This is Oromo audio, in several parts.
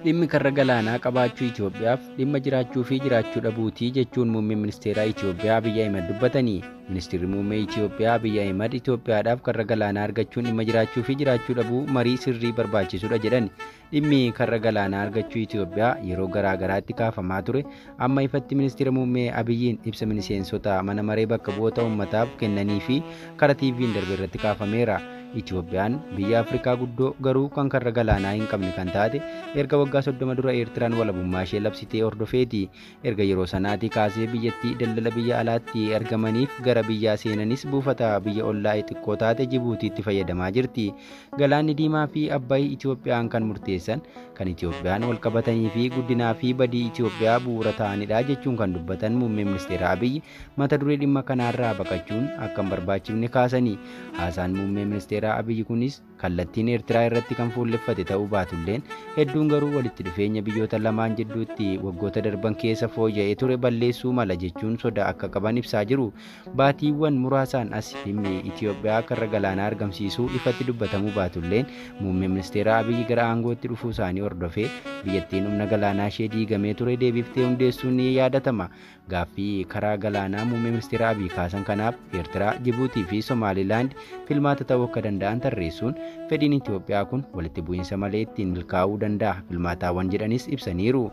Dhimmi karra galaanaa qabaachuu Itoophiyaaf dhimma jiraachuu fi jiraachuu dhabuutii jechuun muummeen ministeeraa Itoophiyaa Abiyyi Ahimad dubbatanii. Ministeerri muummee Itoophiyaa Abiyyi Ahimad Itoophiyaadhaaf karra galaanaa argachuun dhimma jiraachuu fi jiraachuu dhabuu marii sirrii barbaachisudha jedhan. Dhimmi karra galaanaa argachuu Itoophiyaa yeroo garaa garaatti kaafamaa ture amma ifatti ministeera muummee Abiyyiin ibsa miseensota mana maree bakka bu'oota uummataaf kennanii fi karaa TV'n darbe irratti kaafameera. Itoophiyaan biyya Afrikaa guddoo garuu kan karra galaanaa hin qabne kan taate erga waggaa 30 dura Eertiraan walabummaa ishee labsitee hordofeeti. Erga yeroo sanaatii kaasee biyyattii daldala biyya alaatti argamaniif gara biyyaa seenanis buufata biyya ollaa'ee xiqqoo taate Jibuutiitti fayyadamaa jirti. Galaanni Diimaa fi Abbayi Itoophiyaan kan murteessan, kan Itoophiyaan wal qabatanii fi guddinaa fi badii Itoophiyaa bu'uura ta'anidha jechuun kan dubbatan Muummee Ministeera Abiy mata duree dhimma kanaarraa baqachuun akka hin barbaachifne kaasanii haasaan Muummee Ministeeraa Abiy kunis kallattiin Eertiraa irratti kan fuulleffate ta'uu baatulleen hedduun garuu walitti dhufeenya biyyoota lamaan jidduutti waggoota darban keessa fooyya'ee ture balleessuu mala jechuun sodaa akka qaban ibsaa jiru. Baatiiwwan muraasaan as dhimmi Itoophiyaa karra galaanaa argamsiisuu ifatti dubbatamuu baatulleen muummee ministeeraa Abiyyi gara aangootti dhufuu isaanii hordofee biyyattiin humna galaanaa ishee diigamee ture deebiftee hundeessuun ni yaadatama. Gaaffii karaa galaanaa muummee ministeera Abiy kaasan kanaaf Eertiraa, Jibuutii fi Somaalilaand filmaata ta'uu akka danda'an tarreessuun fedhiin Itoophiyaa kun walitti bu'iinsa malee ittiin milkaa'uu danda'a filmaataawwan jedhanis ibsaniiru.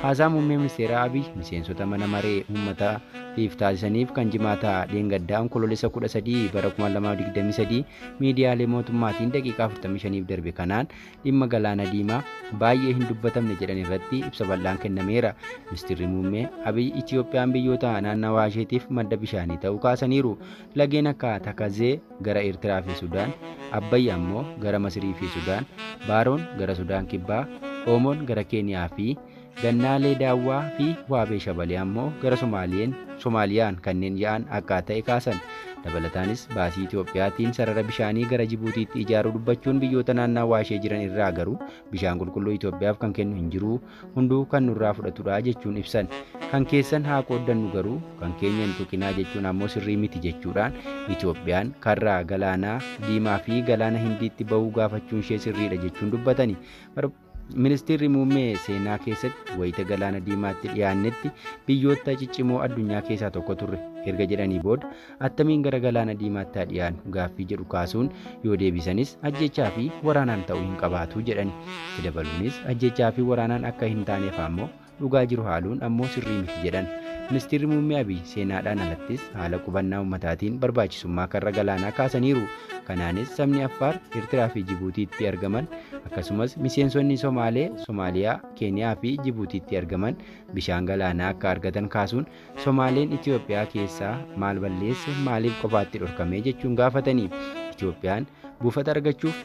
Haasaa muummee ministeera Abiy miseensota mana maree uummataatiif taasisaniif kan jimaata dheengaddaa onkoloolessa 13 bara 2023 miidiyaalee mootummaatiin daqiiqaa 45f darbe kanaan dhimma Galaana Diimaa baay'ee hin dubbatamne jedhan irratti ibsa bal'aan kennameera. Ministirri Muummee Abiy Itiyoophiyaan biyyoota naannawaa isheetiif madda bishaanii ta'uu kaasaniiru. Lageen akka Takazee gara Eertiraa fi Sudaan, Abbayyi ammoo gara Masirii fi Sudaan, Baaroon gara Sudaan Kibbaa, Oomoon gara Keeniyaa fi Gannaalee Daawwaa fi Waabee Shabalee ammoo gara Somaaliyeen, Somaaliyaan, kanneen ya'an akkaa ta'e kaasan. Dabalataanis baasii Itoophiyaatiin sarara bishaanii gara Jibuutiitti ijaaruu dubbachuun biyyoota naannaawaa ishee jiran irraa garuu bishaan qulqulluu Itoophiyaaf kan kennu hin jiru, hunduu kan nurraa fudhatudha jechuun ibsan. Kan keessan haa qooddannu garuu kan keenya hin tuqinaa jechuun ammoo sirrii miti jechuudhaan Itoophiyaan karraa Galaanaa Diimaa fi Galaana Hindiitti bahuu gaafachuun ishee sirriidha jechuun dubbatani. Ministeerri muummee seenaa keessatti wayita galaana diimaatti dhiyaannetti biyyoota ciccimoo addunyaa keessaa tokko turre erga jedhanii booda attamiin gara galaana diimaatti haa dhiyaannu gaaffii jedhu kaasuun yoo deebisanis ajjechaa fi waraanaan ta'uu hin qabaatu jedhani. Itti dabaluunis ajjechaa fi waraanaan akka hin taaneef ammoo Dhugaa jiru haaluun ammoo sirrii miti jedhan. Ministirri Muummee Abiy seenaadhaan alattis haala qubannaa ummataatiin barbaachisummaa karra galaanaa kaasaniiru. Kanaanis sabni Affaar, Ertiraa fi Jibuutiitti argaman akkasumas miseensonni Somaalee, Somaaliyaa, Keeniyaa fi Jibuutiitti argaman bishaan galaanaa akka argatan kaasuun Somaaleen Itoophiyaa keessaa maal balleesse maaliif qofaatti dhorkame jechuun gaafatanii Itoophiyaan buufata argachuuf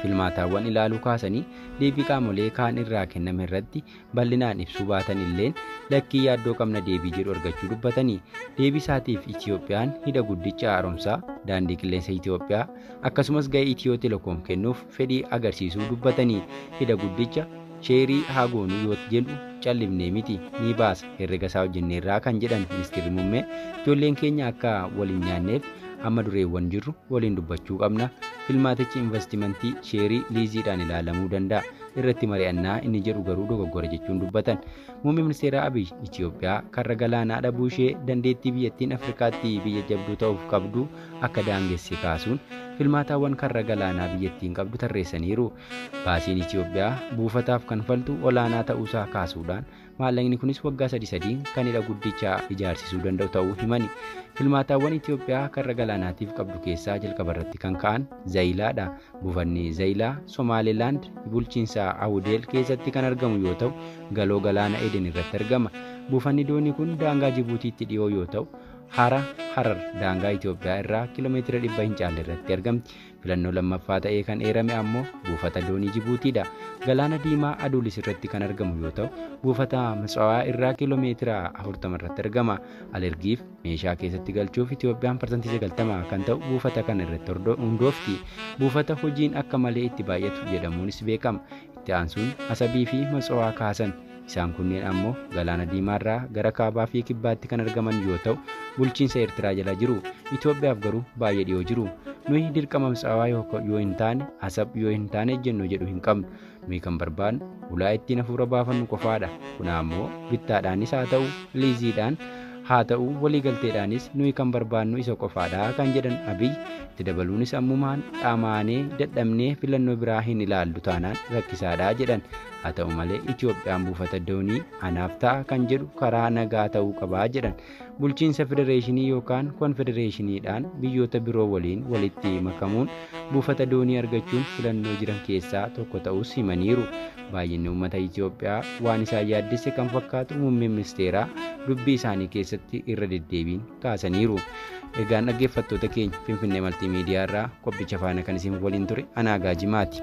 filmaataawwan ilaaluu kaasanii deebii qaamolee kaan irraa kenname irratti bal'inaan ibsuu baatan illeen lakkii yaaddoo qabna deebii jedhu argachuu dubbatanii deebii isaatiif Itiyoophiyaan hidha guddicha haaromsaa daandii qilleensa Itiyoophiyaa akkasumas ga'ee Itiyoo Telekoom kennuuf fedhii agarsiisuu dubbatanii hidha guddicha sheerii haa goonuu yoo jedhu callifnee miti ni baasa herrega isaa hojjenneerraa kan jedhan ministeerri muummee ijoolleen keenya akka wal hin nyaanneef amma dureewwan jirru waliin dubbachuu qabna filmaatichi investimentii sheerii liiziidhaan ilaalamuu danda'a irratti mari'annaa inni jedhu garuu dogoggora jechuun dubbatan. Muummee ministeeraa Abiy Itiyoophiyaa karra galaanaa dhabuu ishee dandeettii biyyattiin Afrikaatti biyya jabduu ta'uuf qabdu akka daangesse kaasuun filmaataawwan karra galaanaa biyyattiin qabdu tarreessaniiru. Baasiin Itiyoophiyaa buufataaf kanfaltu olaanaa ta'uusaa kaasuudhaan Maallaqni kunis waggaa sadi sadiin kan hidha guddicha ijaarsisuu danda'u ta'uu himani. Filmaataawwan Itoophiyaa karra galaanaatiif qabdu keessaa jalqaba irratti kan ka'an Zayilaadha. Buufanni Zayilaa Somaalilaand bulchiinsa Awudeel keessatti kan argamu yoo ta'u, galoo galaana Eden irratti argama. Buufanni doonii kun daangaa Jibuutiitti dhiyoo yoo ta'u, hara Harar daangaa Itoophiyaa irraa kiiloomeetira dhibba hin caalle irratti argamti. Filannoo lammaffaa ta'ee kan eerame ammoo buufata doonii Jibuutiidha. Galaana Diimaa Aduulis irratti kan argamu yoo ta'u, buufata Mitsawaa irraa kiiloo meetira 40 irratti argama. Alergiif meeshaa keessatti galchuuf Itoophiyaan parsantii 90 kan ta'u buufata kana irratti hordo- hundoofti. Buufata hojiin akka malee itti baay'atu jedhamuunis beekama. Itti aansuun Asabii fi Matsawaa kaasan. Isaan kunneen ammoo Galaana Diimaarraa gara kaabaa fi kibbaatti kan argaman yoo ta'u, bulchiinsa Eertiraa jala jiru. Itoophiyaaf garuu baay'ee dhiyoo jiru. Nuyi dirqama Mitsaawaa yoo hin taane, Asab yoo hin taane ejjennoo jedhu hin qabnu. Nuyi kan barbaadnu ulaa ittiin hafuura baafannu qofaadha. Kun ammoo bittaadhaanis haa ta'u, liiziidhaan haa ta'u, waliigalteedhaanis nuyi kan barbaadnu isa qofaadha kan jedhan Abiy itti dabaluunis ammumaan dhamaanee dadhabnee filannoo biraa hin ilaallu taanaan rakkisaadha jedhan. Haa ta'u malee Itoophiyaan buufata doonii anaaf ta'a kan jedhu karaa nagaa ta'uu qabaa jedhan. Bulchiinsa federeeshinii yookaan konfedereeshiniidhaan biyyoota biroo waliin walitti makamuun buufata doonii argachuun filannoo jiran keessaa tokko ta'us himaniiru. Baay'inni uummata Itoophiyaa waan isaan yaaddesse kan fakkaatu muummeen ministeeraa dubbii isaanii keessatti irra deddeebiin kaasaniiru. Egaan dhaggeeffattoota keenya Finfinnee Maltiimiidiyaa irraa qophicha faana kan isin waliin ture Anaagaa Jimaati.